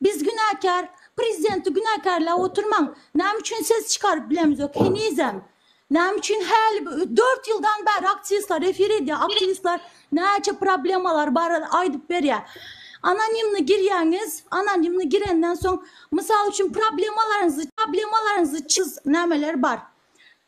Biz günäkär, prezidenti günäkärläp oturmaň. Näme üçin ses çykaryp bilemizok henizem? Näme üçin häli dört ýyldan bäri aktiwistler efir edýär, aktiwistler näçe problemalar barada aýdyp berýär. Anonimni girýäňiz, anonimni girenden soň, mysal üçin problemalaryňyzy, problemalaryňyzy çyz, nämeler bar?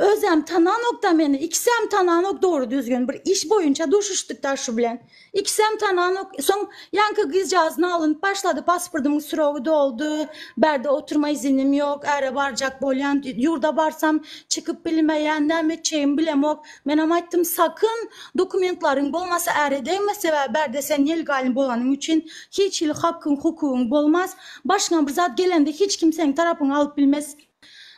Özem tananokda meni ikisem tananok dogry düzgün bir iş boýunça duşuşdykda şu bilen ikisem tananok soň ýaňky gyzjagaz nalynyp başlady pasportyň srogy doldy bärde oturma izinim ýok äre barjak bolýan ýurda barsam çykyp bilmeýän näme etjegimi bilemok menem aýtdym sakyn dokumentlaryň bolmasa äre degme sebäbi bärde sen nelegalny bolanyň üçin hiç hili hakgyň hukugyň bolmaz başyňa bir zat gelende hiç kim seň tarapyňy alyp bilmez.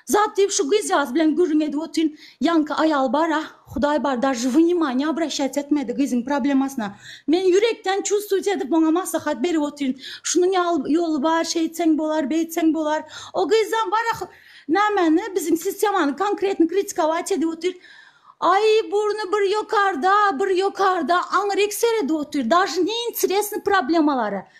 Zat diýip şu gyzjagaz bilen gürrüň edip otyryn. Ýaňky aýal bar-a, Hudaý bar, daže wnimaňýa obraşýat etmedi gyzyň problemasyna. Men ýürekden çustuýt edip oňa maslahat berip otyryn. Şunuň ýaly ýoly bar, şeýtseň bolar, beýtseň bolar. O gyzam bar-a nämäni, biziň sistemany konkretno kritikować edip otyr. Aý, burny bir ýokarda, bir ýokarda, aňryk seredip otyr. Daže neinteresny problemalary.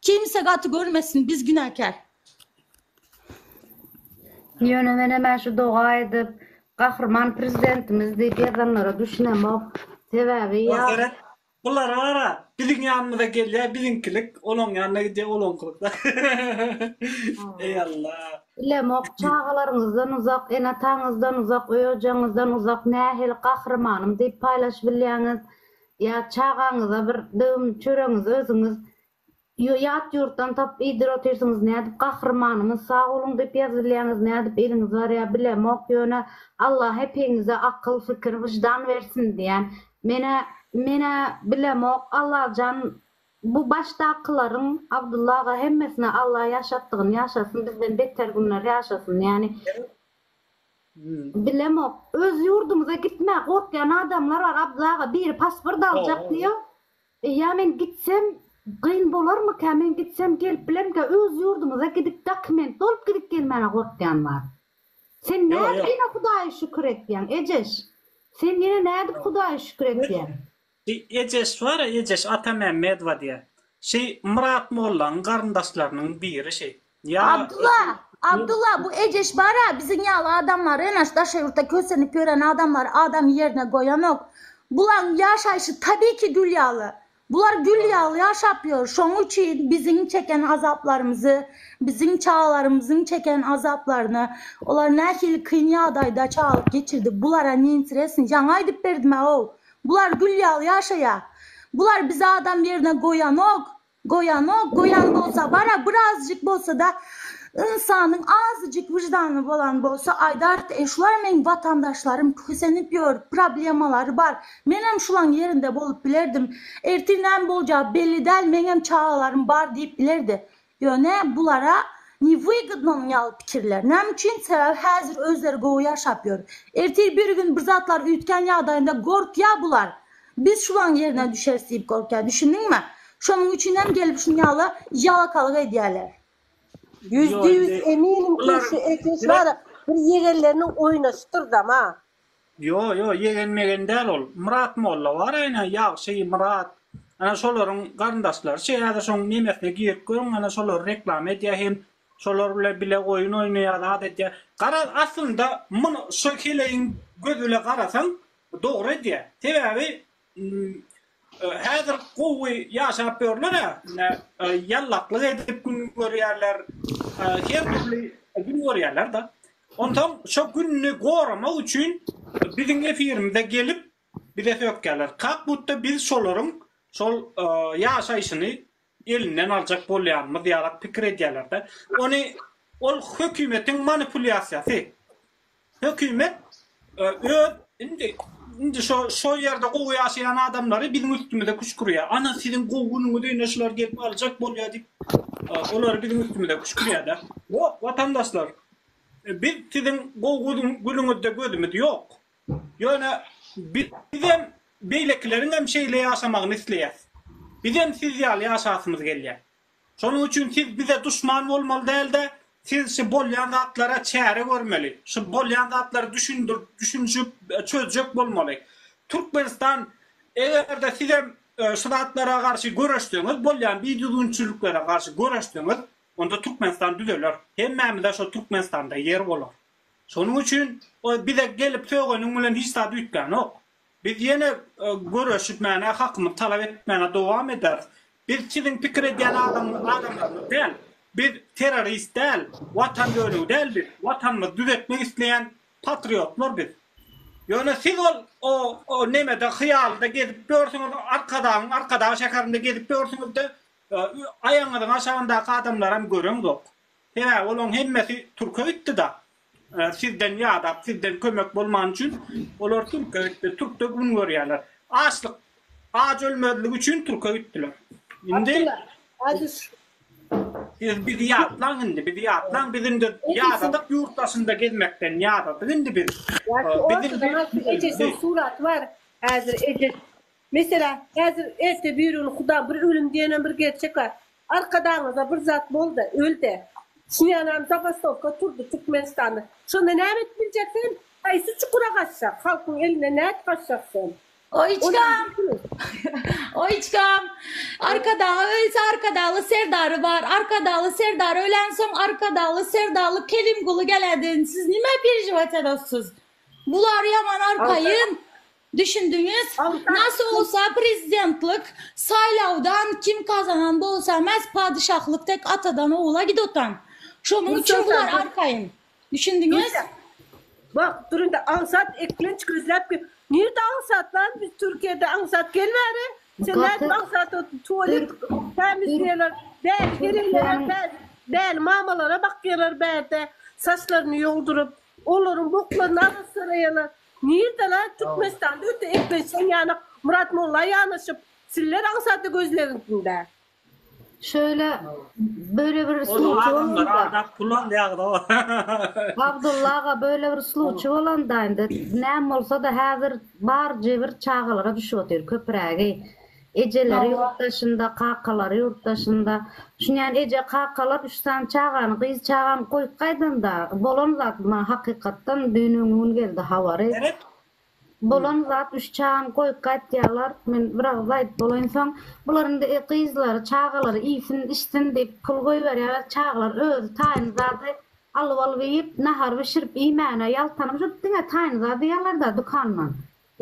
Kimse gaty görmesin biz günäkär. Ýöne men emä şu doga edip Gahryman Prezidentimiz diýip ýazanlara düşünemok. Sebäbi ýa. Bulara gara, biziň ýanymyza gelýär biziňkilik, olaň ýanyna gidýär olaňkylyk. Eý Allah. Bilemok, çagalaryňyzdan uzak, ene-ataňyzdan uzak, öý-ojagyňyzdan uzak nähili Gahrymanym diýip paýlaşybilýäňiz? Ýa çagaňyza bir döwüm çöregiňizi özüňiz ýat ýurtdan tapyp iýdir otyrsyňyz nädip gahrymanyňyz sag boluň diýip ýazybilýäňiz nädip eliňiz barýa bilemok ýöne Allah hepiňize akyl fikir wyždan bersin diýän menä menä bilemok Allajan bu başdakylaryň Abdylla aga hemmesine Allah ýaşatdygyny ýaşasyn bizden beter günler ýaşasyn ýani Bilemok. Öz ýurdumyza gitmä gorkýan adamlar bar Abdylla aga biri pasport aljak diýýär. Ýa men gitsem gyn bolarmyka men gitsem gelip bilermika öz ýurdumyza gidip dokument dolup gidip gelmäne gorkýan bar. Sen nädip ýene hudaýa şükür etýäň Ejeş? Sen ýene nädip hudaýa şükür etýäň? Şi Ejeş bar-a, Ejeş, Atamämmedowa diýýä. Şi Myrat mollaň garyndaşlarynyň biri şi. Ýa. Abdylla! Abdylla! Bu Ejeş bar-a, biziň ýaly adamlary ene şu daşary ýurtda kösenip ýören adamlary adam ýerine goýanok. Bulaň ýaşaýşy tabiky gül ýaly. Bular gül ýaly ýaşap ýör. Şoň üçin biziň çeken azaplarymyzy, biziň çagalarymyzyň çeken azaplaryny, olar nähili kyn ýagdaýda çagalyk geçirdi, bulara ne interesni? Jaňa aýdyp berdim-ä-ow. Bular gül ýaly ýaşaýa. Bular bizi adam ýerine goýanok, goýanok, goýan bolsa bara birazjyk bolsada ynsanyň azjyk wyždany bolan bolsa aýdart e şular meň watandaşlarym kösenip ýör problemalary bar menem şulaň ýerinde bolup bilerdim ertir näme boljagy belli däl meňem çagalarym bar diýip bilerdi Ýöne bulara newygodnomy ýaly pikirler. Näme üçin? Sebäbi häzir özleri gowy ýaşap ýör. Ertir bir gün bir zatlar üýtgän ýagdaýynda gorkýar bular. Biz şulaň ýerine düşeris diýip gorkýar. Düşündiňmi? Şonuň üçin hem gelip şun ýaly ýalakalyk edýärler. Ýüzde ýüz eminim ki şu ekli şu bir ýegenleriniň oýnaşypdyr dama. Ýo ýo ýegen megen däl ol Myrat molla bar ene Ýagşy Myrat ana şolaryň garyndaşlary şe häzir şoň nemesine girip görüň ana şolary reklama edýä hem şolar bile bile oýun oýnaýa zat edýä garaz aslynda muny şu heleýiň göz bile garasaň dogry edýä sebäbi Häzir gowy ýaşap ýörler-ä, ine, ýallaklyk edip gün görýärler, her dürli gün görýärler-de. Onsoň şo gününi goramak üçin biziň efirimize gelip, bize sökýärler. Kak-budda biz şolaryň şol ýaşaýşyny elinden aljak bolýanymyz ýalak pikir edýärler-de. Ony ol hökümetiň manipulýasiýasy. Hökümet öz indi indi şo şo ýerde gowy ýaşaýan adamlary biziň üstümize küşkürýär. Ana siziň gowy günüňiz öýüne şular gelip aljak bolýar diýip olary biziň üstümize küşkürýär-de. Ýok, watandaşlar, biz siziň gowy günüňizde gözümiz ýok. Ýöne bizem beýlekileriňem şeýle ýaşamagyny isleýäs. Bizem siz ýaly ýaşasymyz gelýär. Şonuň üçin siz bize duşman bolmaly däl-de, siz şu bolýan zatlara çäre görmeli, şu bolýan zatlary düşündirip, düşünişip çözjek bolmaly. Türkmenistan eger-de sizem şu zatlara garşy göreşseňiz, bolýan bidüzgünçiliklere garşy göreşseňiz, onda Türkmenistan düzeler. Hemmämize şo Türkmenistanda ýer bolar. Şonuň üçin ol bize gelip sögeniň bilen hiç zat üýtgänok. Biz ýene göreşmäne, hakymyzy talap etmäne dowam ederis. Biz siziň pikir edýän adamlaryňyz däl. Biz terrorist däl, watan bölegi däl biz. Watanymyzy düzetmek isleýän patriotlar biz. Ýöne siz ol o nemede hyýalda gezip ýörsüňiz, Arkadagyň Arkadag şäherinde gezip ýörsüňiz-de, aýagyňyzyň aşagyndaky adamlaram göreňzok. Hä, olaň hemmesi türke gitdi-da. Sizden ýadap, sizden kömek bolmany üçin olar türke gitdi. Türkde gün görýärler. Açlyk, aç ölmezligi üçin türke gitdiler. Indi siz bizi ýatlaň indi, bizi ýatlaň. Biz indi ýadadyk ýurt daşynda gezmekden, ýadadyk indi biz. Ýaşy ejesiniň suraty bar. Häzir eje, meselem, häzir erte birigini huda bir ölüm diýenem bir gerçek bar. Arkadagyňyza bir zat bolda ölde. Şuýanam zabastowka turdy Türkmenistanda. Şonda näme edip biljek sen? Haýsy çukura gaçjak? Halkyň eline nädip gaçjak sen? Oýçkam! Oýçkam! Arkadagy ölse Arkadagly Serdary bar. Arkadagly Serdar ölensoň Arkadagly Serdally Kerimguly geläden siz nime perejiwat edossyz? Bular ýaman arkaýyn. Düşündiňiz? Nasy bolsa prezidentlik saýlawdan kim kazanan bolsa mes padyşahlyk tek atadan ogula gidotan. Şonuň üçin bular arkaýyn. Düşündiňiz? Bak durunda aňsat eklenç gözläp gel. Nirde aňsat lan biz Türkiýede aňsat gel bäri. Sen nädip aňsat ot tualet tämiz diýerler. Bäri gelinlere bäri bäri mamalara bakýarlar bärde saçlaryny ýolduryp. Olaryň boklaryny arassyraýarlar. Nirde la Türkmenistanda öte eklençeň ýanak Murat Molla ýanaşyp siller aňsat gözlegiňsinde. Şöyle böyle bir sluvçy bolanda. Abdulla aga böyle bir sluvçy bolanda indi näme bolsada häzir bar jebir çagalara düşüp otyr köpürägi. Ejeleri ýurt daşynda, kakalary ýurt daşynda. Düşünýän eje, kakalar üç sany çagany, gyz çagany goýup gaýdanda, bolan zat bu maňa hakykatdan düýn-öňňi gün geldi habary. Bolan zat üç çagany goýup gaýtýarlar. Men bir agyz aýdyp bolaýynsoň, bular indi gyzlary, çagalary iýsin, içsin diýip pul goýberýärler. Çagalar özi taýyn zady alyp-alyp iýip, nahar bişirip iýmäne ýaltanymyş, diňe taýyn zat iýýärler-dä dükandan.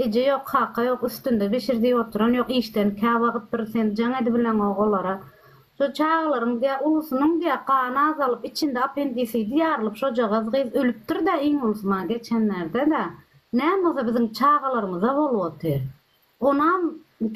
Eje ýok, kaka ýok, üstünde bişir diýip oturan ýok, işden käwagt bir sen jaň edibileňok olara. Şo çagalaryň diýýär, ulusynyň diýýär, gany azalyp, içinde apendisidi ýarylyp şojagaz gyz ölüpdir-dä iň ulusy maňa geçenlerde-dä. Näme bolsa biziň çagalarymyza bolup otyr. Onam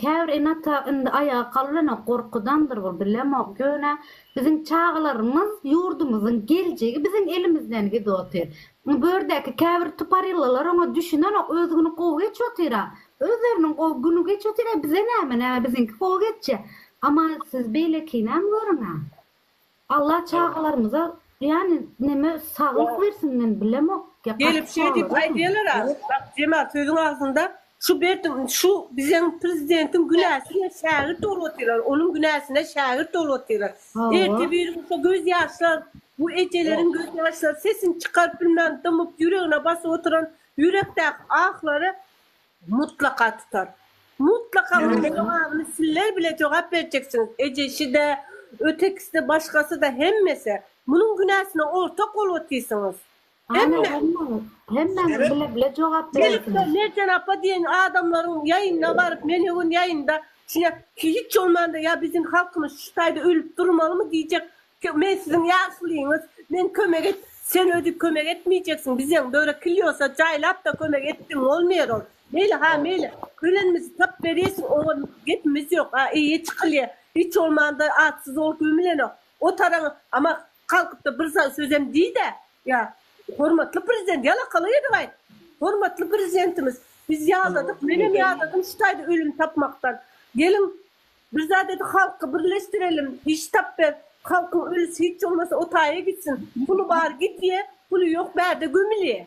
käbir ene-ata indi aýaga galybilenok, gorkudandyr bu, bilemok. Ýöne biziň çagalarymyz, ýurdumyzyň geljegi biziň elimizden gidip otyr. Bu gördäki käbir tuparyllalar oňa düşünenok öz güni gowy geçip otyra özleriniň gowy güni geçip otyra bize näme näme biziňki gowy geçje ama siz beýlekinäm görüňä Allah çagalarymyza ýani neme saglyk bersin men bilemok ýa Gelip gaty şeýdip çagalar aýdýalar a, bak Jemal sözüň agzynda Şu berdim şu bizeň prezidentiň günäsine şägirt bolup otyrlar onuň günäsine şägirt bolup otyrlar ertir biri bolsa göz ýaşlar bu ejeleriň göz ýaşlary sesini çykaryp bilmän dymyp ýüregine basyp oturan ýürekdäki ahlary mutlaka tutar mutlaka munuň jogabyny sizler bile jogap berjeksiňiz ejeside ötekiside başgasida hemmesi munuň günäsine ortak bolup otyrsyňyz. Hemme. Hemmäňiz bile bile jogap berersiňiz. Merjen apa diýen adamlaryň ýaýynyna baryp men ögün ýaýynda şuňa hiç bolmanda ýa biziň halkymyz şu taýda ölüp durmalymy diýjek men siziň ýaşulyňyz men kömek et sen özi kömek etmeýjeksiň bizeň böre kilýosa jaýlapda kömek etdiň bolmaýar ol meýli ha meýli ölenimizi tap berýesiň oňa gepimiz ýok a eýe çykylýa hiç bolmanda atsyz ol gömülenok o taraň ama Kalkypda bir sözem diýdä, ýa Hormatly Prezident, ýalakalyk edip aýt. Hormatly Prezidentimiz, biz ýadadyk, menem ýadadym şu taýda ölüm tapmakdan. Geliň, bir zat edip halky birleşdirelim, iş tap ber, halkyň ölüsi hiç bolmasa o taýa gitsin. Puly bar gidýä, puly ýok bärde gömülýä.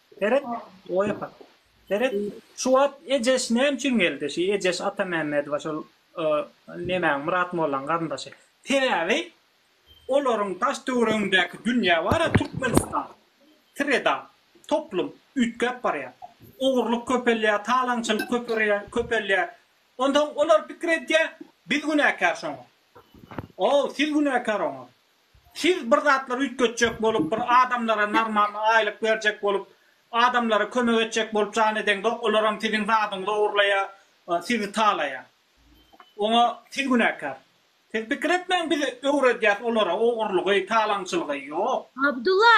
Seret, Oýapak. Seret, şu wagt Ejeş näme üçin geldi? Şu Ejeş Atamämmedowa şol nemäň, Myrat mollaň garyndaşy. Sebäbi, olaryň daş-töweregindäki dünýä bar-a, Türkmenistan, sreda, toplum, üýtgäp barýar. Ogurlyk köpelýär, talaňçylyk köpelýär. Onsoň olar pikir edýär, biz günäkär şoňa. O, siz günäkär oňa. Siz bir zatlar üýtgetjek bolup, bir adamlara normal aýlyk berjek bolup, adamlara kömek etjek bolup jan edeňde, olaram siziň zadyňyzy ogurlaýar, sizi talaýar. Oňa siz günäkär. Siz pikir etmäň biz öwredýäs olara ogurlygy, talaňçylygy. Ýok. Abdulla!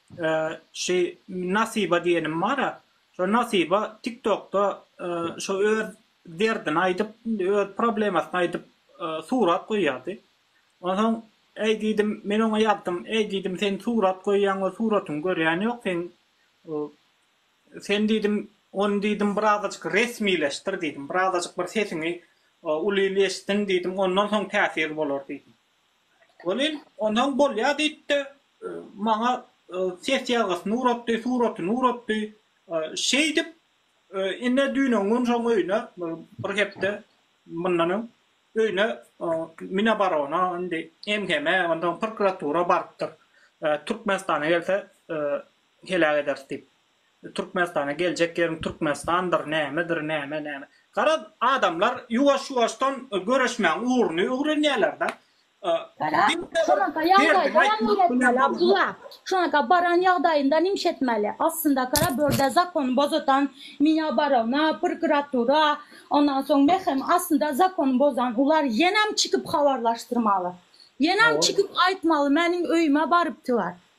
Şu Nasiba diýenim bar-a, şo Nasiba TikTokda şo öz derdini aýdyp, öz problemasyny aýdyp surat goýýardy. Onsoň, äý diýdim, men oňa ýazdym, äý diýdim, sen surat goýýaň we suratyňy görýän ýok seň, sen diýdim, ony diýdim birazajyk resmileşdir diýdim, birazajyk bir sesiňi uly eşitsin diýdim, ondan soň täsir bolar diýdim. Welin, onam bolýa diýipdi. Maňa ses ýazgysyny ugratdy, suratyny ugratdy. Şeýdip, ine düýn-o gün şoň öýüne, bir hepde mundan öň öýüne Minoborono, indi MHM, onsoň prokuratura barypdyr. Türkmenistana gelse heläk ederis diýip. Türkmenistana geljek ýeriň Türkmenistandyr nämedir näme näme. Garaz adamlar ýuwaş ýuwaşdan göreşmäň ugruny öwrenýälerda. Bala şonaka ýagdaýda näme etmeli Abdulla şonaka baran ýagdaýynda nimş etmeli aslynda kara börde zakon bozatan miňa barowna prkuratura ondan soň meheme aslynda zakon bozan ular ýenem çykyp habarlaşdyrmaly ýenem çykyp aýtmaly meniň öýüme barypdylar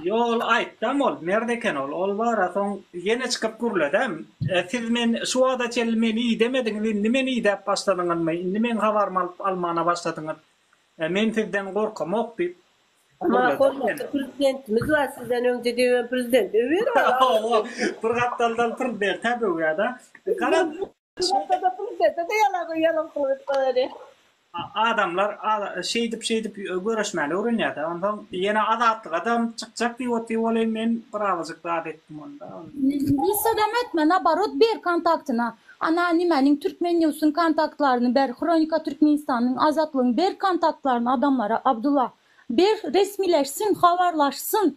Ýol aýtdam ol merd eken ol ol bara soň ýene çykyp gürledem siz men şu wagta çenli meni idemediňiz indi meni idäp başladyňyzmy indi meň habarymy alyp almana başladyňyz men sizden gorkamok diýip Emma hormatly prezidentimiz bar sizden öňde döwen prezident öwer ol bir gapdaldan prezidente döwýärda garaz. Şeýle Ýalakada pul islese-de ýalak, ýalak pul edip goýardy. Adamlar şeýdip-şeýdip göreşmäni öwrenýär-dä. Onsoň ýene Azatlygam çykjak diýip otyr welin, men birazajyk zat etdim onda. Nissadam etme, naborot, ber kontaktyny. Ana, nimäniň Türkmennews-yň kontaktlaryny ber, Hronika Türkmenistanyň, Azatlygyň ber kontaktlaryny adamlara, Abdulla. Ber, resmileşsin, habarlaşsyn.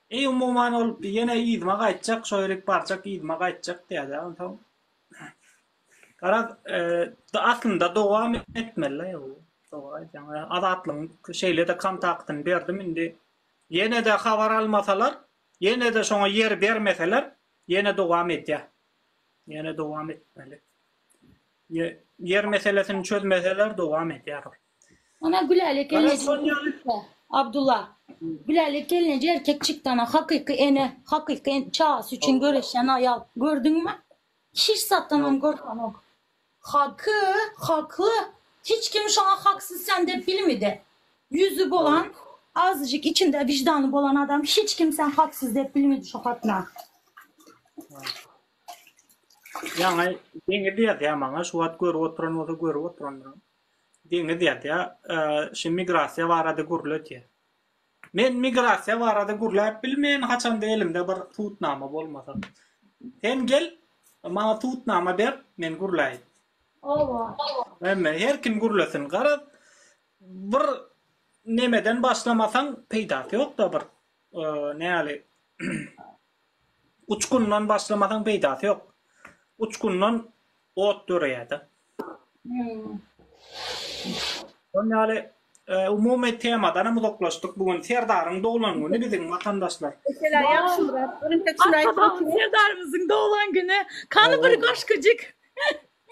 Eý umuman ol ýene yzyma gaýtjak şo ýerik barjak yzyma gaýtjak diýýädä onsoň garaz aslynda dowam etmelidä bu dogry aýtýaň azatlygyň şeýlede kontaktyny berdim indi ýenede habar almasalar ýenede şoňa ýer bermeseler ýene dowam edýär ýene dowam etmeli ýer meselesini çözmeseler dowam edýär ol. Ana Gülälek gelneje erkekçikde. Abdulla. Gülälek gelneje erkekçikde ana hakyky ene, hakyky en çagasy üçin göreşen aýal. Gördüňmi? Hiç zatdan oň gorkanok. Haky, hakly. Hiç kim şoňa haksyz sen dep bilmidi. Ýüzi bolan, azajyk içinde wijdany bolan adam hiç kim sen haksyz dep bilmidi şo hatna. Ýaňy deňi diýýär maňa şu wagt görüp oturan bolsa görüp oturandyr. Deňiz ýazýar, Şu migrasiýa barada gürle diýýär. Men migrasiýa barada gürläp bilmeýän, haçanda elimde bir subutnama bolmasa. Sen gel, maňa subutnama ber, men gürläýin. Oba. Hemme, her kim gürlesin. Garaz, bir nemeden başlamasaň, peýdasy ýok-da bir, näli, uçgundan başlamasaň peýdasy ýok. Uçgundan ot döreýär-de. Şol ýaly umumy temadan hem uzaklaşdyk. Bu gün Serdaryň doglan güni biziň watandaşlar. Serdarymyzyň doglan güni. Kany bir goşgujik.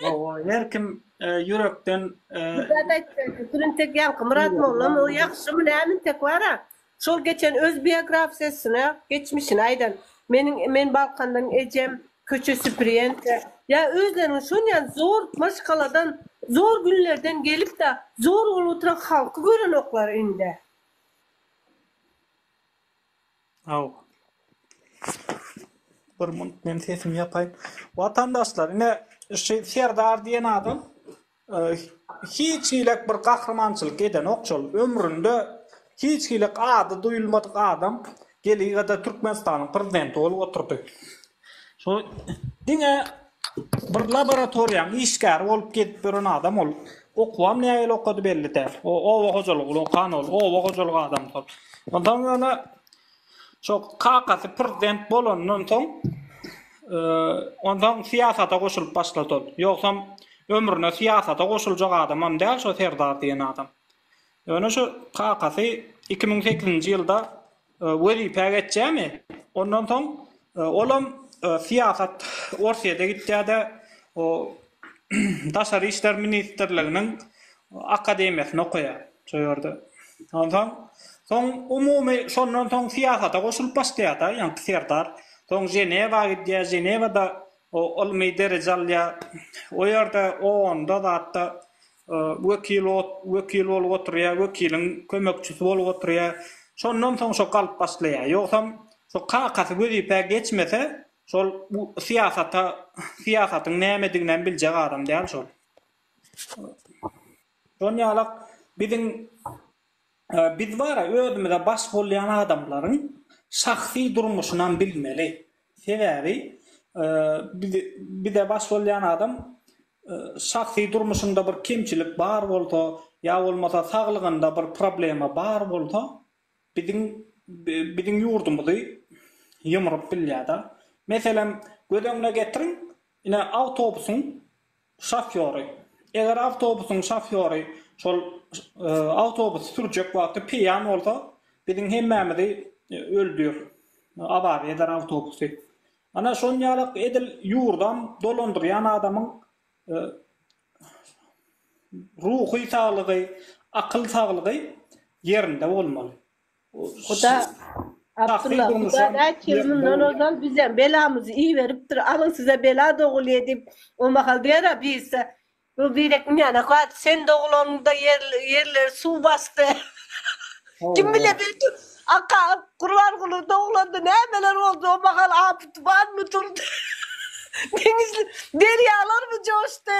Owa, her kim ýürekden. Ýürekden aýtdy. Turintek ýaňky Myrat mollamy? O ýagşymy, näme intek bar-a? Şol geçen öz biografsiýasyna geçmişini aýdan. Meniň men Balkandan ejem köçe süpürýän. Ýa özleriniň şonýan zor maşgaladan zor günlerden gelipda zor bolup oturan halky görenoklar indi. Aw. Bir munt men sesimi ýapaýyn. Watandaşlar ine şu Serdar diýen adam Hiç hiläk bir gahrymançylyk edenok şol ömründe hiç hiläk ady duýulmadyk adam geligada Türkmenistanyň prezidenti bolup oturdy. Şo diňe bir laboratoriýaň işgäri bolup gezip ýören adam ol. Okuwam nägile okady belli däl. O oba hojalygy bilen okan ol. Oba hojalyk adamdy ol. Onsoň ýöne Şol kakasy prezident bolandan soň, onsoň syýasata goşulyp başlady ol. Ýogsam, ömrüne syýasata goşuljak adamam däl şo Serdar diýen adam. Ýöne şu kakasy iki müň sekizinji ýylda wezipä geçýärmi, ondan soň Olam syýasat Orsýede gitýärde o daşary işler ministrliginiň akademiýasyny okaýar şo ýerde. Onsoň soň umumy şondan soň syýasata goşulyp başlaýarda ýaňky Serdar. Soň Ženewa gidýär Ženewada o ylmy dereje alýar. O ýerde o onda zatda Wekil ot, wekil bolup oturýar, wekiliň kömekçisi bolup oturýar. Şondan soň şo galyp başlaýar. Ýogsam, şo kakasy wezipä geçmese, şol bu syýasata, syýasatyň nämediginem biljek adam däl şol. Şon ýalak biziň biz bar-a, özümize baş bolýan adamlaryň şahsy durmuşynam bilmeli. Sebäbi bize baş bolýan adam şahsy durmuşynda bir kemçilik bar bolsa, ýa bolmasa saglygynda bir problema bar bolsa, biziň biziň ýurdumyzy ýumrup bilýär-de. Meselem, göz öňüne getiriň, ine, awtobusyň Şofýory. Eger awtobusyň şofýory şol awtobusy sürjek wagty peýan bolsa, biziň hemmämizi öldür, awaza eder awtobusy. Ana, şon ýaly edil ýurdam dolandyrýan adamyň ruhy saglygy, akyl saglygy ýerinde bolmaly. Huda Abdylla huda näçe ýyl mundan ozal bizem belamyzy iberipdir alyň size bela dogulýa diýip o mahal Wera birse bu birek inýana kat sen dogulanňda ýerleri suw basdy kim bile belki Aka Gurbanguly dogulanňda nämeler boldy o mahal apy tupanmy turdy deňizler derýalarmy joşdy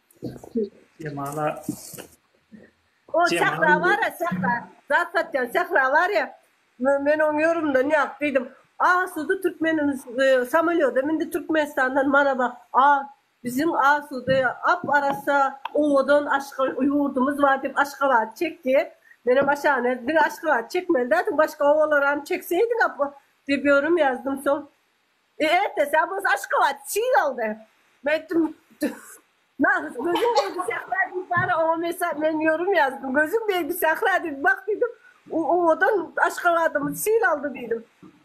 Jemala. O çakra bar ya çakra. Zat satýan çakra bar ya. Men oň ýörümden ýap diýdim. A sudy türkmeniň e, samolýoda mindi Türkmenistandan mana bak. A biziň a sudy ap arassa owadan aşga ýurdumyz bar diýip Aşgabat çekdi. Menem aşany diňe Aşgabat çekmeli dädiň başga owalar hem çekseýdik ap diýip ýörüm ýazdym soň. E ertesi abys Aşgabat çig galdy. Men aýtdym, Nahys gözüň degdi Sähra diýip bar, oňa mesa men ýörüm ýazdym. Gözüň degdi Sähra diýip bak diýdim. O owadan Aşgabadymyz çig aldy diýdim.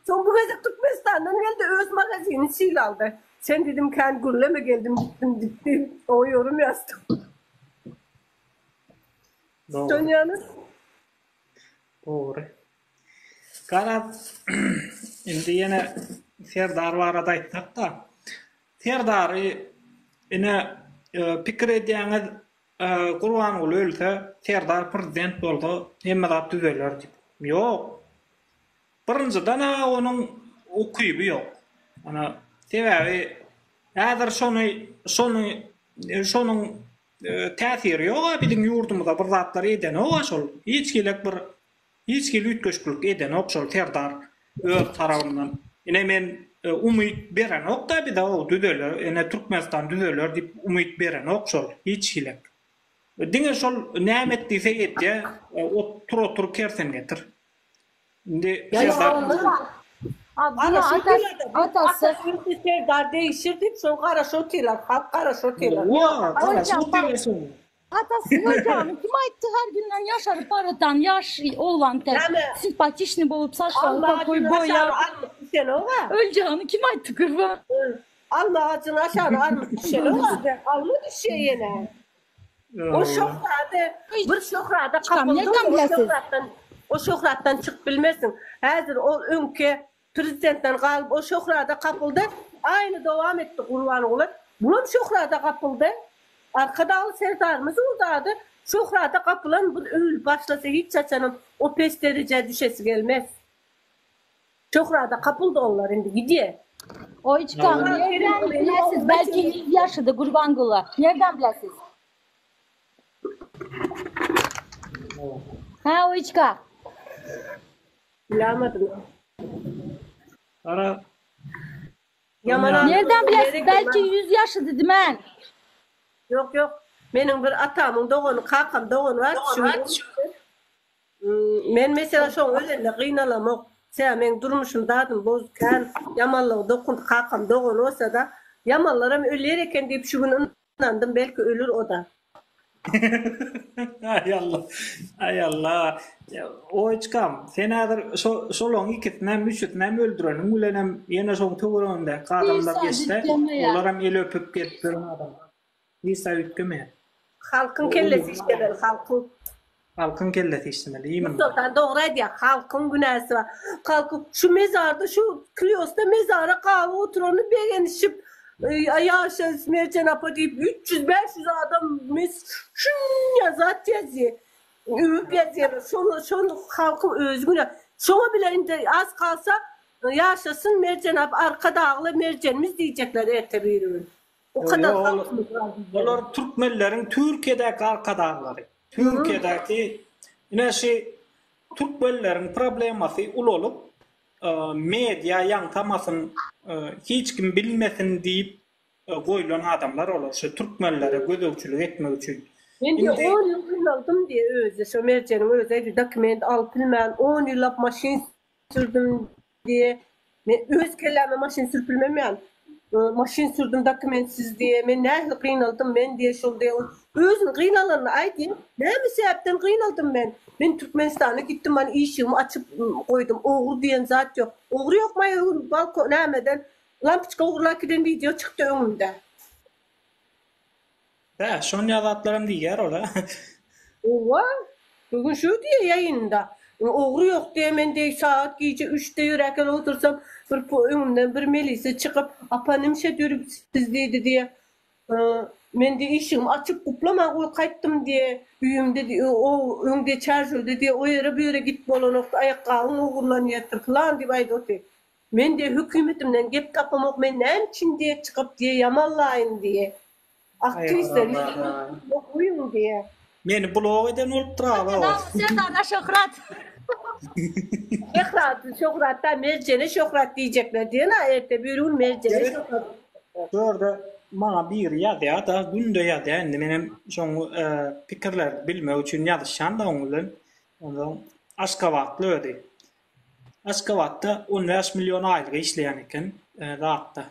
Soň bu gezek Türkmenistandan geldi, öz magazini çig aldy. Sen diýdim kän gürleme geldim gitdim gitdi. Oňa ýörüm ýazdym. Dogry. Dönýäňiz. Dogry. Garaz, indi ýene Serdar barada aýtsak-da, Serdary ine pikir edýäňiz, Gurbanguly ölse, Serdar prezident bolsa hemme zat düzeler diýip. Ýok. Birinjiden-ä onuň ukyby ýok. Ana, sebäbi häzir şony, şony, şonuň täsiri ýog-a biziň ýurdumyza bir zatlar edenok-a şol. Hiç hili bir Hiç hili üýtgeşiklik edenok şol Serdar öz tarabyndan. Ine men umyt berenokda bize o düzeler ene Türkmenistan düzeler diýip umyt berenok şol hiç hili. Diňe şol näme et diýse edýä tur otur kersen getir. Indi Serdar Ana şo atasy Serdar degişir diýip şol garaşyp otyrlar halk garaşyp otyrlar. Atasy görjagny kim aýtdy her günden ýaşaryp baratan ýaş oglan tä simpatiçni bolup saçlary pokoý boýap öljagny kim aýtdy gurban. Alma agajynyň aşagyna armyt düşeloga. Alma düşýä ýene. O şöhrady bir şöhrada kapyldyň o şöhratdan o şöhratdan çykyp bilmersiň. Häzir ol öňki Prezidentden galyp ol şöhrada gapyldy. Aýyny dowam etdi Gurbanguly. Bulam şöhrada gapyldy. Arkadagly Serdarymyz boldy ady. Şöhrada gapylan bir öýli başlasy hiç haçanam o pes derejä düşesi gelmez. Şöhrada gapyldy onlar indi gidýä. Oýçkam nerden bilesiz belki ýüz ýaşydy Gurbanguly. Nerden bilesiz. Hä Oýçka. Bilamadym. Ara. Yaman adam. Nereden bilesin belki 100 yaşı dedi men. Yok yok. Meniň bir atamyň dogany, kakam dogany bar. Hmm, men mesela şoň özünde gynalamok. Sen men durmuşum dadym boz kän. Yamanlygy dokun kakam dogany olsa da. Yamanlar hem ölýär eken diýip şu gün Ynandym belki ölür oda. Aý Alla. Aý Alla. Oýçkam, sen häzir şo şolaň ikisinem, üçüsinem öldüreniň bilenem ýene şoň töweregindäki adamlar geçse, olaram el öpüp gezip ýören adamlar. Isa üýtgemeýär. Halkyň kellesi işleler, halkyň. Halkyň kellesi işlemeli iýmini. Mustafa dogry aýdýar halkyň günäsi bar halky şu mezarda şu kliosda mezara gaby oturany begenişip ýaşa Merjen apa diýip üç ýüz bäş ýüz adam mes şunya zat ýazýa öwüp ýazýalar şony şony halky özi günä şoňa bile indi az kalsa ýaşasyn Merjen ap Arkadagly Merjenimiz diýjekler erte biri gün. Olar türkmenleriň Türkiýedäki arkadaglary. Türkiýedäki ine şi türkmenleriň problemasy ulalyp media ýaňsamasyn hiç kim bilmesin diýip goýlan adamlar olar şo türkmenlere gözegçilik etmek üçin. Men diýe on ýyl gynaldym diýe özi şo merjeniň özi dokument alyp bilmän on ýyllap maşyn Sürdüm diýe. Men öz kelläme maşyn sürüp bilmemýän. Maşyn sürdüm dokumentsiz diýe. Men nähili gynaldym men diýe şol diýe. Özüni gynalanyny aý diýe. Näme sebäpden gynaldym men? Men Türkmenistana gitdim man işigimi açyp goýdum. Ogry diýen zat ýok. Ogry ýok maý öň balko nämeden lampoçka ogurlap giden wideo çykdy öňümde. Hä, şonýa zatlaram diýýär ol-a. Howwa, bu gün şu diýýä ýaýynynda. Ogry ýok diýýä, men deý sagat gije üçde ýöräkel otursam, bir öňümden bir melise çykyp, Apa, nimşet ýörüpsiz diýdi diýýä. Men deý işigimi açyp, guplaman goýup gaýtdym diýýä. Öýümde diýýä, o öň deçarjewde diýýä, o ýere, bu ýere gidip bolanokdy, aýakgabyň ogurlanýardyr pylan diýip aýdyp otyr. Men diýýä, hökümetimden gep tapamok, men näme üçin diýýä çykyp diýýä ýamallaýyn diýýä. Aktrisa okuyun diye. Meni blok eden bolupdyr aga o. Serdada şöhrat. Şöhrat, şöhrat da merjene şöhrat diýjekler diýen-a erte bir gün merjene şöhrat. Şurada maňa biri ýazýar da, günde ýazýar. Indi menem şoň pikirler bilmek üçin ýazyşýan da oň bilen. Ondan Aşgabatly özi. Aşgabatda 15 million aýlyga işleýän eken, zatda.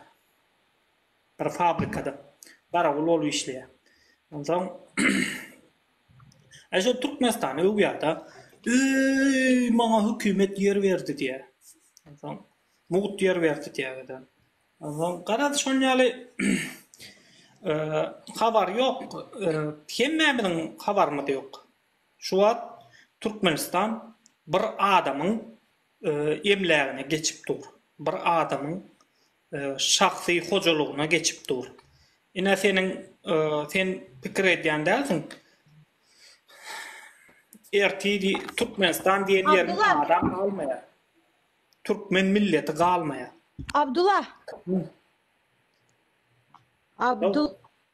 bir fabrikada garawul bolup işleýär. Onsoň şol Türkmenistany öwýär-de, Eý, maňa hökümet ýer berdi diýýär. Onsoň mugt ýer berdi diýýär-de. Onsoň garaz şol ýaly habar ýok. Hemmämiziň habarymyz ýok. Şu wagt Türkmenistan bir adamyň emlägine geçip dur. Bir adamyň şahsy hojalygyna geçip dur. Ine seniň sen pikir edýän dälsiň. Erti Türkmenistan diýen ýeriň adam galmaýar. Türkmen milleti galmaýar. Abdullah. Abdul.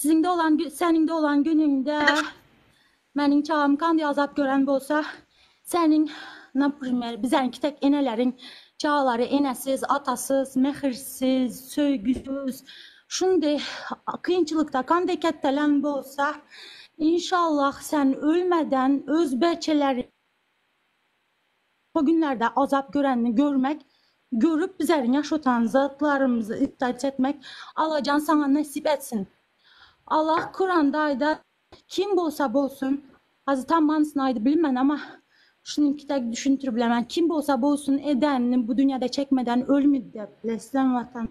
Siziň doglan seniň doglan günüňde meniň çagam kan ýazap gören bolsa seniň naprimer bizäňki tek eneleriň çagalary enesiz atasyz mähirsiz söýgüsiz şundy kynçylykda kandy kettelen bolsa inşallah sen ölmeden öz beçeleri Bu günlerde azap göreni görmek görüp bizari ýaşatan zatlarymyzy ykdayt etmek Allajan saňa nesip etsin Allah kuranda aýda kim bolsa bolsun hazir tam manysyny aýdyp bilinmen ama şunyňki dek düşüntirip bilemen kim bolsa bolsun edenini bu dünýede çekmeden ölmi dep leslem watan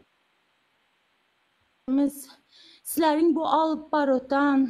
miz sizleriň bu alyp barutan.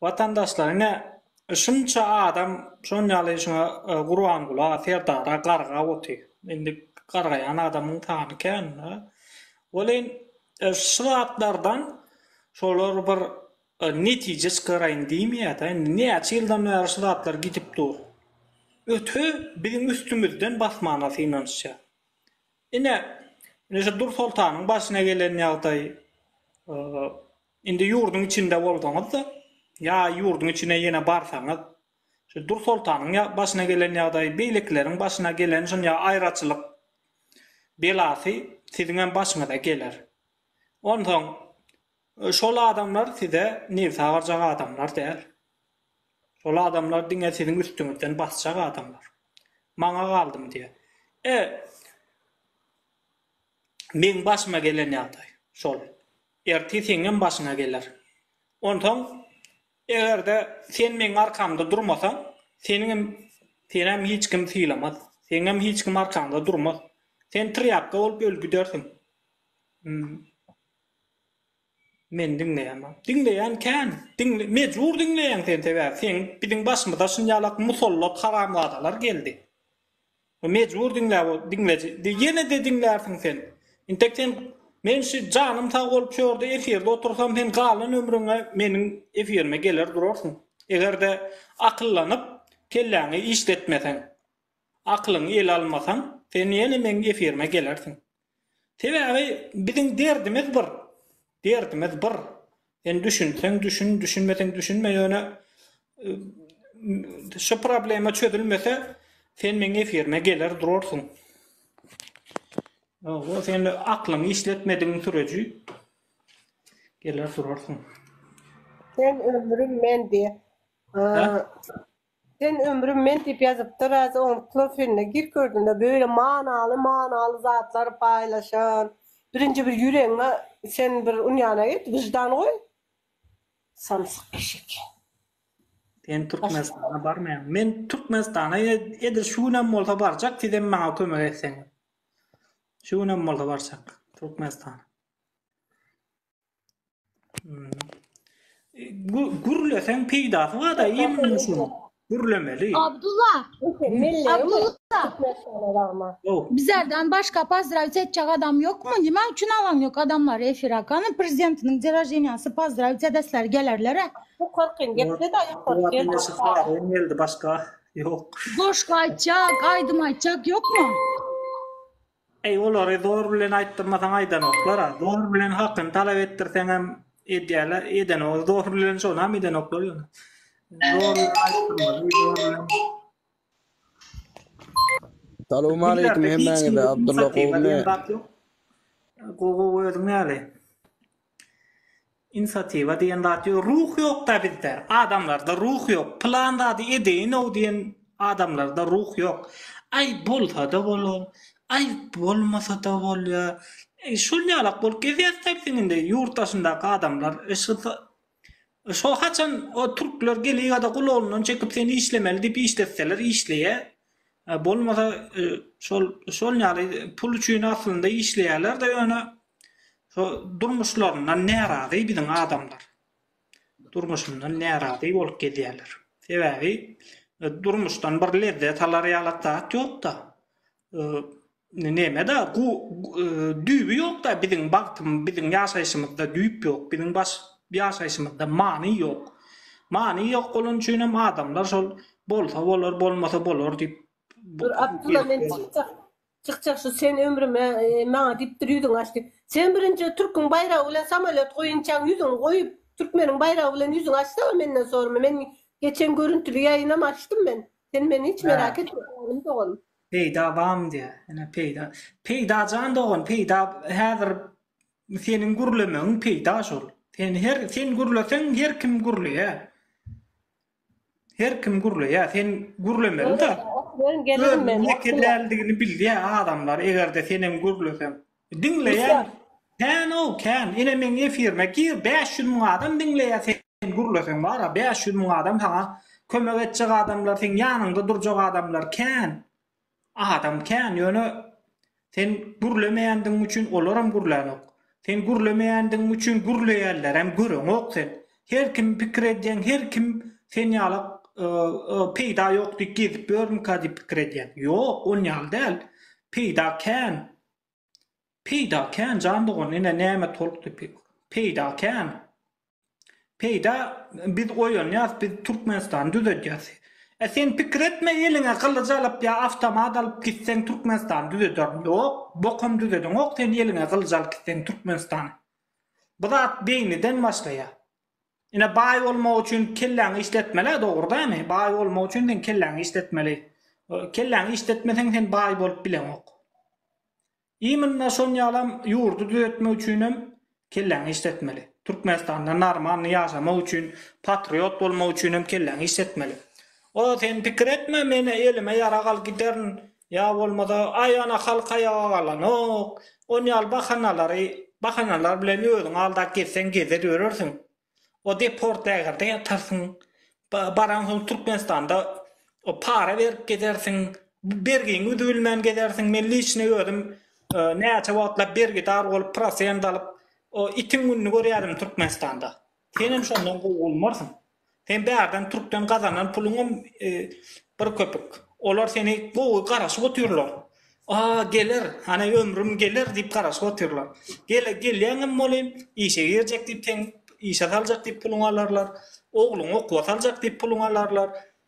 Watandaşlar ine şunça adam şon ýaly şuňa Gurbangula Serdara gargap oty indi gargaýan adamyň sany kän da welin şu zatlardan şolar bir netije çykaraýyn diýmeýä da indi näçe ýyldan bäri şu zatlar gidip dur öte biziň üstümizden basmana synanyşýar ine şu Dursoltanyň başyna gelen ýagdaý Indi ýurduň içinde bolsaňyz-da, ýa ýurduň içine ýene barsaňyz, şu Dur soltanyň başyna gelen ýagdaý, beýlekileriň başyna gelen şunja aýraçylyk belasy siziňem başyňyza geler. Onsoň şol adamlar size nebsi agarjak adamlar däl. Şol adamlar diňe siziň üstüňizden basjak adamlar. Maňa galdymy diýýär. E, meň başyma gelen ýagdaý şol. Ertir seňňem başyňa geler. Onsoň, eger-de sen meň arkamda durmasaň, seniňem, senäm hiç kim sylamaz. Seňňem hiç kim arkaňda durmaz. Sen trýapka bolup öl gidersiň. Men diňleýämok. Diňleýän kän. Diňle, mejbur diňleýäň sen sebäbi seň biziň başymyza şynjalak musallat haramzadalar geldi. Bu mejbur diňläp ot diňleji di ýenede diňlärsiň sen. Intek sen men şi janym sag bolup şu ýerde efirde otursam sen galan ömrüňe meniň efirime geler durarsyň. Egerde akyllanyp kelläňi işletmeseň. Aklyňy ele almasaň sen ýene meniň efirime gelersiň. Sebäbi biziň derdimiz bir, derdimiz bir. Sen düşünseň düşün, düşünmeseň düşünme, ýöne şu problema çözülmese sen meň efirime geler durarsyň. Hawa, sen aklyňy işletmedigiň süreji geler durarsyň. Sen ömrüm men diýip. Sen ömrüm men diýip ýazypda Razy oňurtlar sende gir kördüne böyle manaly manaly zatlar paýlaşan. Birinji bir ýüregiňe sen bir ünýana git wyždan goý. Samsyk eşek. Sen Türkmenistana barmaýaň. Men Türkmenistana edil şu günem bolsa barjak sizem maňa kömek etseňiz. Şu günem bolsa barjak Türkmenistana. Gürleseň peýdasy bar-da immunyň şunuň. Gürlemeli. Abdulla. Abdulla. Bizlerden başka pozdravit etjek adam ýokmy? Nima üçin alan ýok adamlary efire? Kany prezidentiniň dine roždeniýasy pozdravit edesleri gelerler-ä. Bu korkyn gepde-da ýokarky. Başga. Goşgy aýtjak, aýdym aýtjak ýokmy? Eý olary zor bilen aýtdyrmasaň aýdanoklar a zor bilen hakyny talap etdirseňem edýäler edenok zor bilen şonam edenoklar ýöne zor bilen aýtdyrmaly zor bilen Salowmaleýkim hemmäňize Abdylla gowymy. Gowy gowy özüň näli. Insiatiwa diýen zat ýok. Ruh ýok-da bizde. Adamlarda ruh ýok. Pylan zady edeýin-ow diýen adamlarda ruh ýok. Aý, bolsa-da bolar. Aý, bolmasa-da bolýar. Şol ýalak bolup gezýäris-dä biziň indi. Ýurt daşyndaky adamlar Şo haçan o türkler geliada gulagyndan çekip seni işlemeli diýip işletseler işleýä. Bolmasa şol şol ýaly pul üçin aslynda işleýälerde ýöne şo durmuşlaryndan närazy biziň adamlar. Durmuşyndan närazy bolup gezýäler. Sebäbi durmuşdan bir lezzet alar ýalat zat ýokda. Neme-da, gu, e, düýbi ýok-da biziň bagtym, biziň ýaşaýşymyzda düýp ýok, biziň baş ýaşaýşymyzda many ýok. Many ýok bolany üçin hem adamlar şol bolsa bolar, bolmasa bolar diýip Bir Abdylla men çykjak. Çykjak şu sen ömrüme e, maňa diýipdir ýüzüňi aç diýip. Sen birinji türküň baýragy bilen samolýot goýunçaň ýüzüňi goýup, türkmeniň baýragy bilen ýüzüňi açsaga menden sorma. Men geçen görüntüli ýaýynam açdym men. Sen meni hiç merak etme oglum doganym. Peýda bam diýä. Ene peýda. Peýda jan dogan peýda häzir seniň gürlemegiň peýda şol. Sen her sen gürleseň her kim gürleýä. Her kim gürleýä. Sen gürlemeli-de. Ben gelirim men. Ýeke däldigini bilýä adamlar eger-de sen hem gürleseň. Diňleýän kän-ow kän, ine meň efirime gir bäş ýüz müň adam diňleýä sen gürleseň bara bäş ýüz müň adam saňa kömek etjek adamlar seň ýanyňda durjak adamlar kän adam kän ýöne sen gürlemeýändigiň üçin olaram gürlänok sen gürlemeýändigiň üçin gürleýänlerem göreňok sen her kim pikir edýäň her kim sen ýala peýda ýok diýip gezip ýörmüka diýip pikir edýäň ýok on ýaly däl peýda kän Peýda kän jan dogan ine näme tolkdy pek. Peýda kän. Peýda biz oýanýas biz Türkmenistany düzedýäs. E sen pikir etme eliňe gylyç alyp ýa awtomat alyp gitseň Türkmenistany düzederin ýok bokam düzediňok sen eliňe gylyç alyp gitseň Türkmenistany. Bu zat beýniden başlaýar. Ine baý bolmak üçin kelläňi işletmelä dogry dämi? Baý bolmak üçin sen kelläňi işletmeli. Kelläňi işletmeseň sen baý bolup bileňok. Iminna şon ýalam ýurdy düzetmek üçinem kelläňi işletmeli. Türkmenistanda narmanly ýaşamak üçin, patriot bolmak üçinem kelläňi işletmeli. O sen pikir etme men elime ýarag al giderin Ýa bolmasa, aýana halk aýaga galanok. On ýaly bahanalary, bahanalar bilen özüňi aldap gezseň gezer ýörersiň. O deport lägerde ýatarsyň. Baraňsoň Türkmenistanda para berip gezersiň. Bergiňi üzübilmän gezersiň. Men liçni özüm näçe wagtlap bergidar bolup, prosent alyp, o itiň gününi görýädim Türkmenistanda. Senem şondan gowy bolmarsyň. Sen bärden türkden gazanan puluňam bir köpük. Olar seni gowy garaşyp otyrlar. Aa, geler, hany ömrüm geler diýip garaşyp otyrlar. Gele, gelýäňem weli, işe girjek diýip seň işe saljak diýip puluňy alarlar. Ogluňy okuwa saljak diýip puluňy alarlar.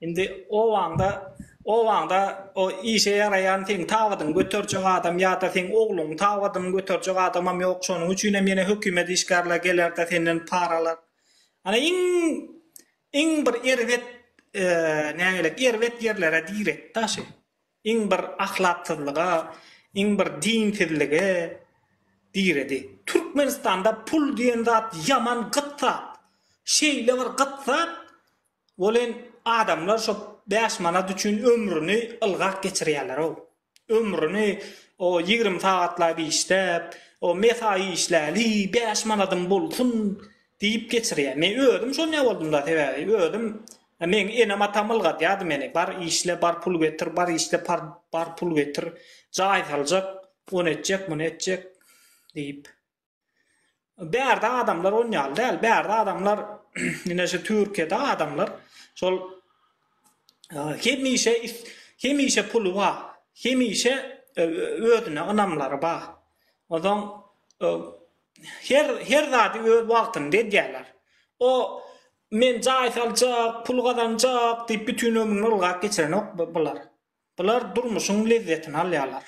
Indi obaňda, obaňda o işe ýaraýan seň tabydyňy göterjek adam ýa-da seň ogluňyň tabydyny göterjek adamam ýok, şonuň üçinem ýene hökümet işgärleri geler-de senden para alar. Ana iň, iň bir erbet, nägeýläk, erbet ýerlere direktda şu. Iň bir ahlaksyzlyga, iň bir dinsizlige diredi. Türkmenistanda pul diýen zat ýaman gyt zat. Şeýle bir gyt zat, Welin, adamlar şo bäş manat üçin ömrüni ylgap geçirýärler-ow. Ömrüni o ýigrimi sagatlap işläp, o mesaý işläli, bäş manadym bolsun diýip geçirýär. Men özüm şonýa boldum-da, sebäbi özüm, meň enem-atam ylgadýardy meni, bar işle, bar pul getir, bar işle, bar pul getir, jaý saljak, ony etjek, muny etjek diýip. Bärde adamlar on ýaly däl. Bärde adamlar ine şu Türkiýede adamlar şol e, hemişe hemişe puly bar. Hemişe e, özüne ynamlary bar. Ondan e, her her zady öz wagtynda edýärler. O men jaý saljak, pul gazanjak diýip bütün ömrüni ylgap geçirenok bular. Bular durmuşyň lezzetini alýarlar.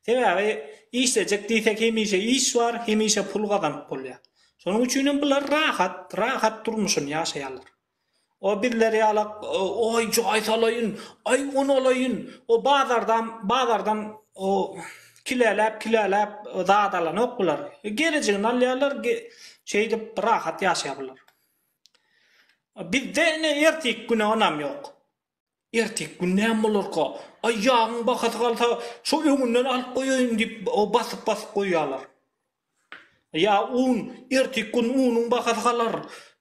Sebäbi işlejek diýsek hemişe iş bar, hemişe pul gazanyp bolýar. Şonuň üçin hem bular rahat, rahat durmuşyny ýaşaýarlar. O bizler ýalak oý jaý salaýyn, aý un alaýyn, o bazardam, bazardan o kileläp, kileläp zat alanok bular. Gerejigini alýarlar, şeýdip rahat ýaşaýar bular. Bizde ine ertiki güne ynam ýok. Erteki gün näme bolarka? Aý, ýagyň bahasy galsa, şo öňünden alyp goýaýyn diýip, basyp-basyp goýýarlar. Ýa un, erteki gün unuň bahasy galar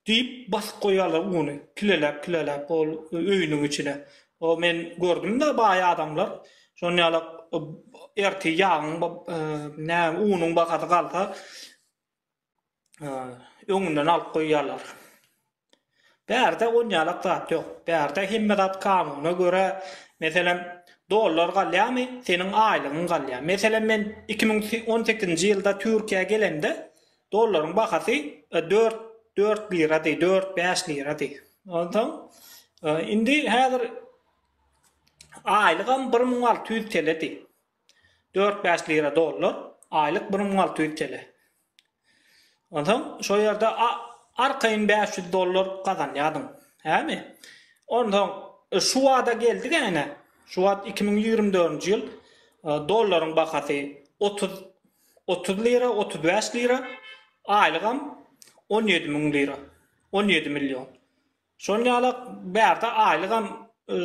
diýip, basyp goýýarlar uny, kileläp-kileläp ol öýüniň içine. O, men gördüm-de, baý adamlar şon ýaly ertir ýagyň, näme, unuň bahasy galsa, öňünden alyp goýýarlar. Bärde onýalak zat ýok. Bärde hemme zat kanuna görä, meselem, dollar galýamy, seniň aýlygyň galýar. Meselem, men iki müň on sekizinji ýylda Türkiýä gelemde, dollaryň bahasy dört, dört lirady, dört, bäş lirady. Onsoň, indi häzir aýlygam bir müň alty ýüz teledi. Dört bäş lira dollar aýlyk bir müň alty ýüz tele. Onsoň şo ýerde arkaýyn bäş ýüz dollar gazanýadyň. Hämi? Onsoň şu wada geldi gäne. Şu wagt iki müň ýigrimi dördünji ýyl dollaryň bahasy otuz otuz lira otuz bäş lira aýlygam on ýedi müň lira on ýedi million. Şol ýala bärde aýlygam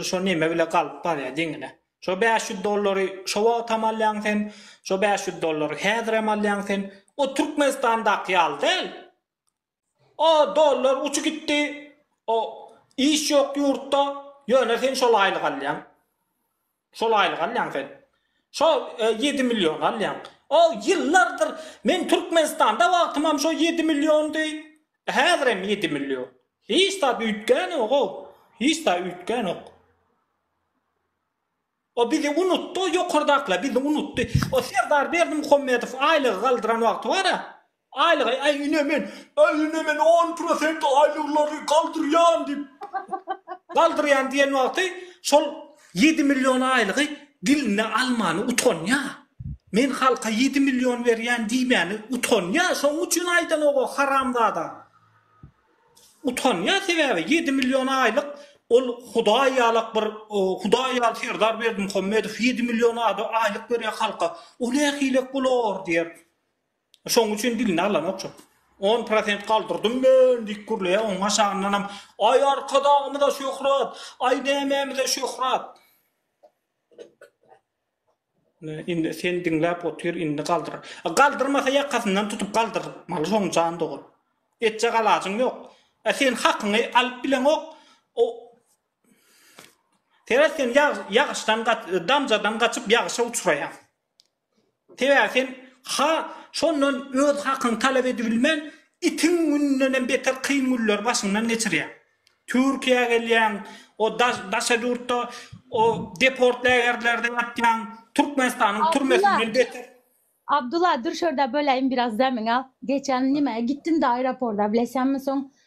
şo neme bile galyp barýa deňine. Şo bäş ýüz dollary şo wagtam alýaň sen, şo bäş ýüz dollary häzirem alýaň sen. O Türkmenistandaky ýaly däl. O dollar uçy gitdi, o iş ýok ýurtda, ýöne sen şol aýlygy alýaň. Şol aýlyk alýaň sen. Şo ýedi million alýaň. O ýyllardyr men Türkmenistanda wagtymam şo ýedi milliondy. Häzirem ýedi million. Hiç zat üýtgänogou. Hiç zat üýtgänok. O bizi unutdy o ýokardakylar bizi unutdy. O Serdar Berdimuhamedow aýlygy galdyran wagty bar-a, Aýlygy aý ünemen aý ünemen on prosent aýlyglary galdyrýan diýip galdyrýan diýen wagty şol ýedi million aýlygy diline almany utanýa men halka ýedi million berýän diýmäni utanýa şoň üçin aýdanogok haramzada utanýa sebäbi ýedi million aýlyk ol hudaý ýalak bir hudaý ýaly serdar berdimuhammedow ýedi million aýlyk berýä halka o nähilek bolar diýer. Şoň üçin dilini alanokjak. On prosent galdyrdym men! diýip gürleýär, onuň aşagyndanam, Aý, Arkadagymyza şöhrat! Aý, nämämize şöhrat! Indi sen diňläp otur, indi galdyr. A galdyrmasa ýakasyndan tutup galdyrmaly şoň jan dogan. Etjek alajyň ýok. A sen hakyňy alyp bileňok. O Seret sen ýagyşdan gaç, damjadan gaçyp ýagyşa uçraýaň. Sebäbi sen ha şondan öz hakyňy talap edibilmän, itiň gününenem beter kyn günleri başyňdan geçirýäň. Türkiýä gelýäň, o daşa ýurtda o deport lägerlerde ýatýaň, Türkmenistanyň türmesinden beter. Abdula, dur şurda böläýin biraz demiňi al. Geçen nimäge gitdiňda aeroporda bilesenmi soň?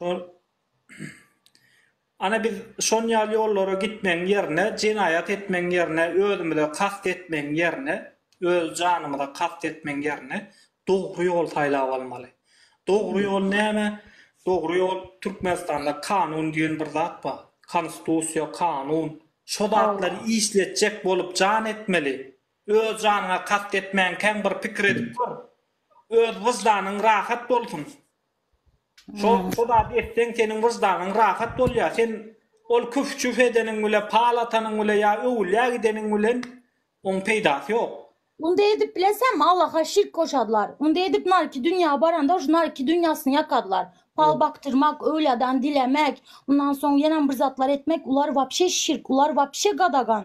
Ol Ana biz şon ýaly ýollara gitmegiň ýerine jenaýat etmegiň ýerine özümize kast etmegiň ýerine öz janymyza kast etmegiň ýerine dogry ýol saýlap almaly. Dogry ýol näme? Dogry ýol Türkmenistanda kanun diýen bir zat bar. Konstusiýa, kanun. Şo zatlary işletjek bolup jan etmeli. Öz janyňa kast etmänkäň bir pikir edip gör. Öz wyždanyň rahat bolsun. Şo şo zady etseň seniň wyždanyň rahat bolýar. Sen ol küf-çüf edeniň bile, pal atanyň bile ýa öwülýä gideniň bilen oň peýdasy ýok. Onda edip bilesäňmi Allaha şirk goşarlar. Onda edip narki dünýä baranda şu narki dünýäsini ýakarlar. Pal bakdyrmak, öwlýadan dilemek, ondan soň ýenäm bir zatlar etmek ular wapşe şirk, ular wapşe gadagan.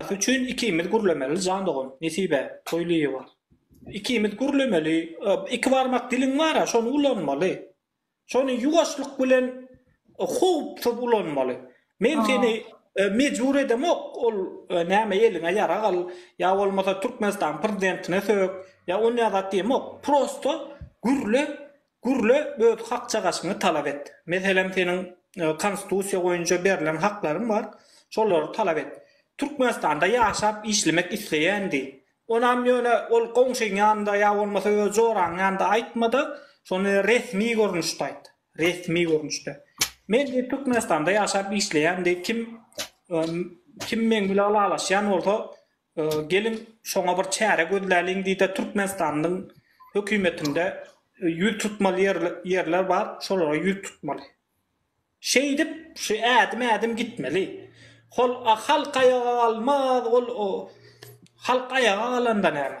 Has üçin ikimiz gürlemeli jan dogan Nesibe Toýlyýewa ikimiz gürlemeli iki barmak diliň bara şony ulanmaly şony ýuwaşlyk bilen howpsuz ulanmaly men seni mejbur edemok ol näme eliňe ýarag al ýa bolmasa Türkmenistanyň prezidentine sök ýa onýa zat diýemok prosto gürle Gürle öz hak çagaşyňy talap et. Meselem seniň konstitusiýa boýunça berlen haklaryň bar, şolary talap et. Türkmenistanda ýaşap işlemek isleýän diý. Onam ýöne ol goňşyň ýanynda ýa bolmasa öz joraň ýanynda aýtmada, şony resmi görnüşde aýt. Resmi görnüşde. Men diý Türkmenistanda ýaşap işleýän diý kim kim meň bilen ylalaşýan bolsa Geliň, şoňa bir çäre gözläliň diýdi. Türkmenistanyň hökümetinde ýüz tutmaly ýerler bar, şolara ýüz tutmaly. Şeýdip, şu ädim-ädim gitmeli. Hol halk aýaga galmaz, ol halk aýaga galanda näme?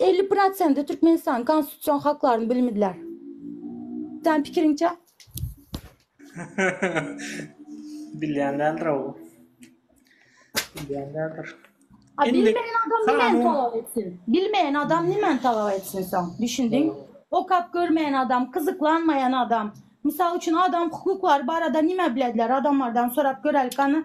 Elli prosenti Türkmenistanyň konstitusion haklaryny bilmediler. Sen pikiriňçe? Bilýän däldir o. Bilýän däldir. A bilmeýän adam näme talap etsin? Bilmeýän adam näme talap etsin soň? Düşündiň? Okap görmeýän adam, gyzyklanmaýan adam. Mysal üçin adam hukuklary barada näme bilediler? Adamlardan sorap göräýlik, gana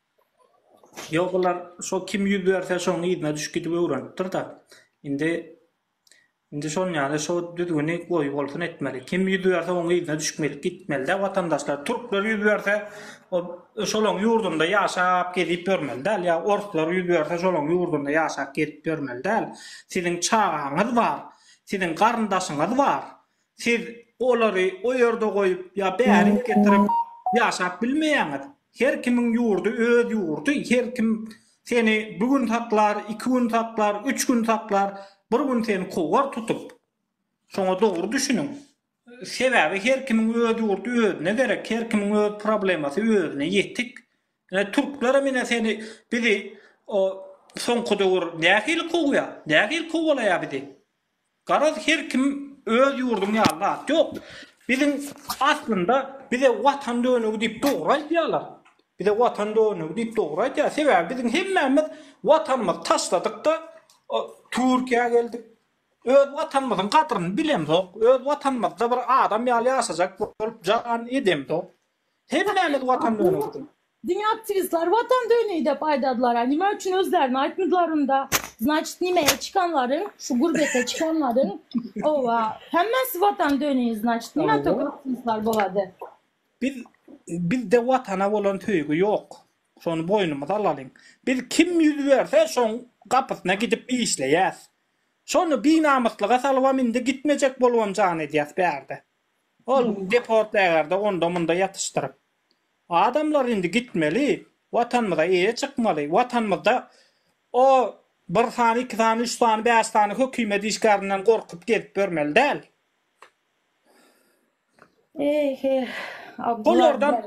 Ýok olar şo kim ýüz berse şoň yzyna düşüp gidip öwrenipdirda indi indi şon ýaly şo düzgüni goýup olsun etmeli kim ýüz berse oň yzyna düşüp gelip gitmelidä watandaşlar türkler ýüz berse ol şolaň ýurdunda ýaşap gezip ýörmeli däl ýa orslar ýüz berse şolaň ýurdunda ýaşap gezip ýörmeli däl siziň çagaňyz bar siziň garyndaşyňyz bar Siz olary o ýerde goýup ýa bärik getirip ýaşap bilmeýäňiz. Her kimiň ýurdy öz ýurdy, her kim seni bir gün saklar, iki gün saklar, üç gün saklar, bir gün seni kowar tutup. Şoňa dogry düşüniň. Sebäbi her kimiň öz ýurdy özüne gerek, her kimiň öz problemasy özüne ýetik. Ine türklerem ine seni bizi o soňky döwür nähili kowýar, nähili kowalaýar bizi. Garaz her kim öz ýurduň ýaly zat ýok. Biziň aslynda bize watan dönügi diýip dogry aýdýarlar. Bize watan dönügi diýip dogry aýdýar. Sebäbi biziň hemmämiz watanymyzy taşladykda Türkiýä geldik. Öz watanymyzyň gadryny bilemzok. Öz watanymyzda bir adam ýaly ýaşajak bolup jan edemzok. Hemmämiz watan dönüňkdür. Diňe aktiwistler watan döni dep aýdadylara nime üçin özlerini aýtmydylar unda znaçit nimeye çykanlaryň şu gurbete çykanlaryň owa hemmesi watan döni znaçit nime tok aktiwistler bolady. Biz bizde watana bolan söýgi ýok şony boýnumyza alalyň biz kim ýüz berse şoň gapysyna gidip işleýäs şony binamyslyga salybam indi gitmejek bolubam jan edýäs bärde. Ol deportlaýarda onda-munda ýatyşdyryp. Adamlar indi gitmeli, Watanymyza eýe çykmaly. Watanymyzda o bir sany, iki sany, üç sany, bäş sany hökümet işgärinden gorkup gezip ýörmeli däl.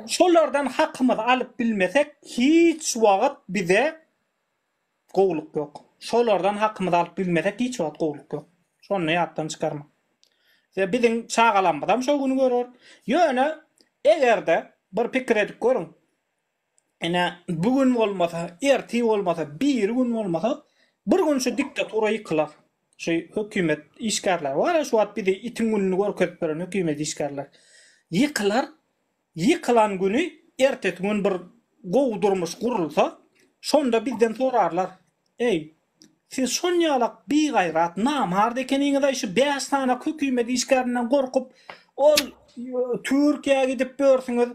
Şolardan hakymyzy alyp bilmesek, hiç wagt bize Gowulyk ýok. Şolardan hakymyzy alyp bilmesek hiç wagt gowulyk ýok. Şony ýatdan çykarmaň. Size biziň çagalarymyzam şo güni görer. Ýöne egerde bir pikir edip görüň. Ine bu gün bolmasa, ertir bolmasa, biri gün bolmasa bir gün şu diktatura ýykylar. Şu hökümet işgärleri bar-a şu wagt bizi itiň gününi görkezip beren hökümet işgärleri. Ýykylar Ýykylan güni ertesi gün bir gowy durmuş gurulsa, şonda bizden sorarlar, Eý, siz şonýalak bigaýrat, namart ekeniňiz-aý şu bäş sany hökümet işgärinden gorkup, ol Türkiýä gidip börsüňiz,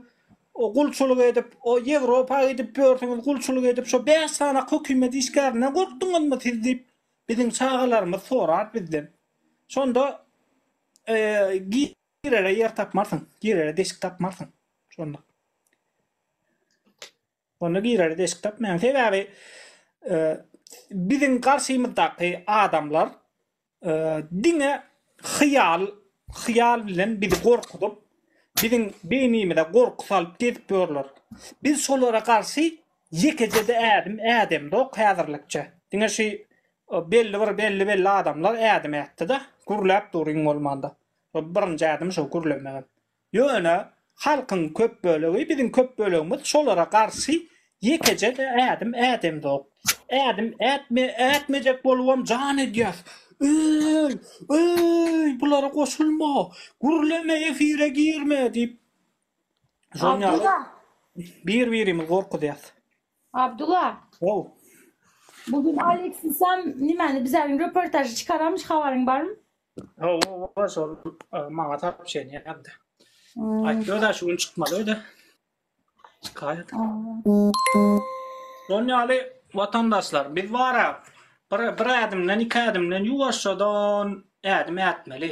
gulçulyk edip, o Ýewropa gidip börsüňiz, gulçulyk edip, şo bäş sany hökümet işgärinden gorkduňyzmy siz diýip, biziň çagalarymyz sorar bizden. Şonda, Eý, Girere ýer tapmarsyň, girere deşik tapmarsyň. Şonda. Onda girere deşik tapmaýaň. Sebäbi e, biziň garşymyzdaky adamlar e, diňe hyýal, hyýal bilen bizi gorkuzyp, biziň beýnimize gorky salyp gezip ýörler. Biz şolara garşy ýekeje-de ädim ädemzok häzirlikçe. Diňe şu e, belli bir belli belli adamlar ädim ätdi-de, gürläp duruň bolmanda. Bu birinji ädim şo gürlemegem. Ýöne halkyň köp bölegi biziň köp bölegimiz şolara garşy ýekeje ädim ädemzok. Ädim ätme ätmejek bolubam jan edýäs. Öý! Öý! Bulara goşulma! Gürleme efire girme diýip şonýaly bir birimizi gorkuzýas. Abdula. How. Bu gün Aleksisam nimani bize gün röportaj çykaramış habaryň barmy? How, how, şol maňa tapyp şeýin ýapdy. Hmm. Aýtdy da şu gün çykmaly öýde. Çykaýat. Şol ýaly watandaşlar, biz bara bir bir ädimden, iki ädimden ýuwaşjadan ädim ätmeli.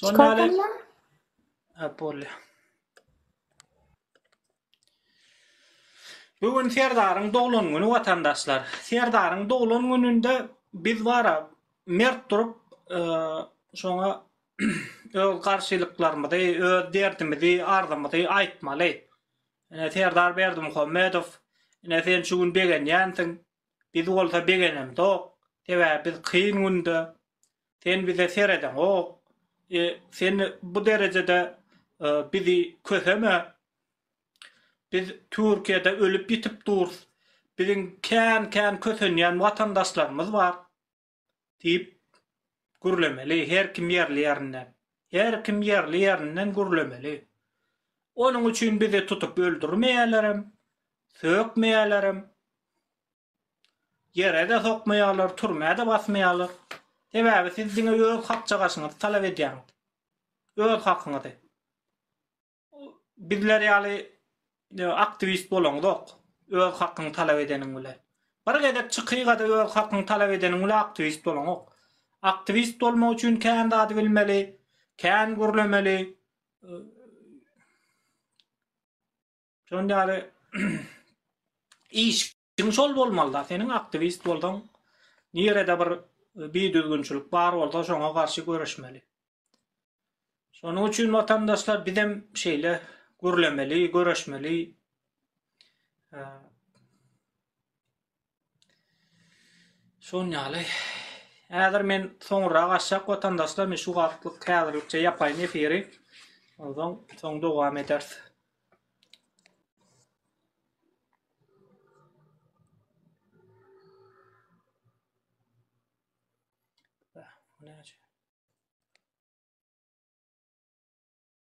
Şonda Çikolatamla? Ha, bolýa. Bu gün Serdaryň doglan güni watandaşlar. Serdaryň doglan gününde biz bara mert durup, e, şoňa öz garşylyklarymyzy, öz derdimizi, arzymyzy aýtmaly. Ine Serdar Berdimuhammedow, ine sen şu gün begenýänsiň. Biz bolsa begenemzok. Sebäbi biz kyn günde Sen bize seredeňok. E, sen bu derejede e, bizi köseme. Biz Türkiýede ölüp-ýitip durus. Biziň kän-kän kösenýän watandaşlarymyz bar. Diýip gürlemeli her kim ýerli ýerinden. Her kim ýerli ýerinden gürlemeli. Onuň üçin bizi tutup öldürmeýälerem, sökmeýälerem. Ýere-de sokmaýarlar, türmä-de basmaýarlar. Sebäbi siz diňe öz hakjagaşyňyzy talap edýäňiz. Öz hakyňyzy. Bizler ýaly aktiwist bolaňyzok, öz hakyňy talap edeniň bilen. Bir gezek çykyga-da öz hakyňy talap edeniň bilen aktiwist bolaňok. Aktiwist bolmak üçin kän zady bilmeli, kän gürlemeli. Şondan ýaly işiň şol bolmaly-da, seniň aktiwist bolsaň, nirede bir bidüzgünçilik bar bolsa, şoňa garşy göreşmeli. Şonuň üçin watandaşlar bizem şeýle gürlemeli, göreşmeli. Şon ýaly. Häzir men soňra gaçjak watandaşlar men şu wagtlyk häzirlikçe ýapaýyn efiri. Ondan soň dowam ederis. Näçe?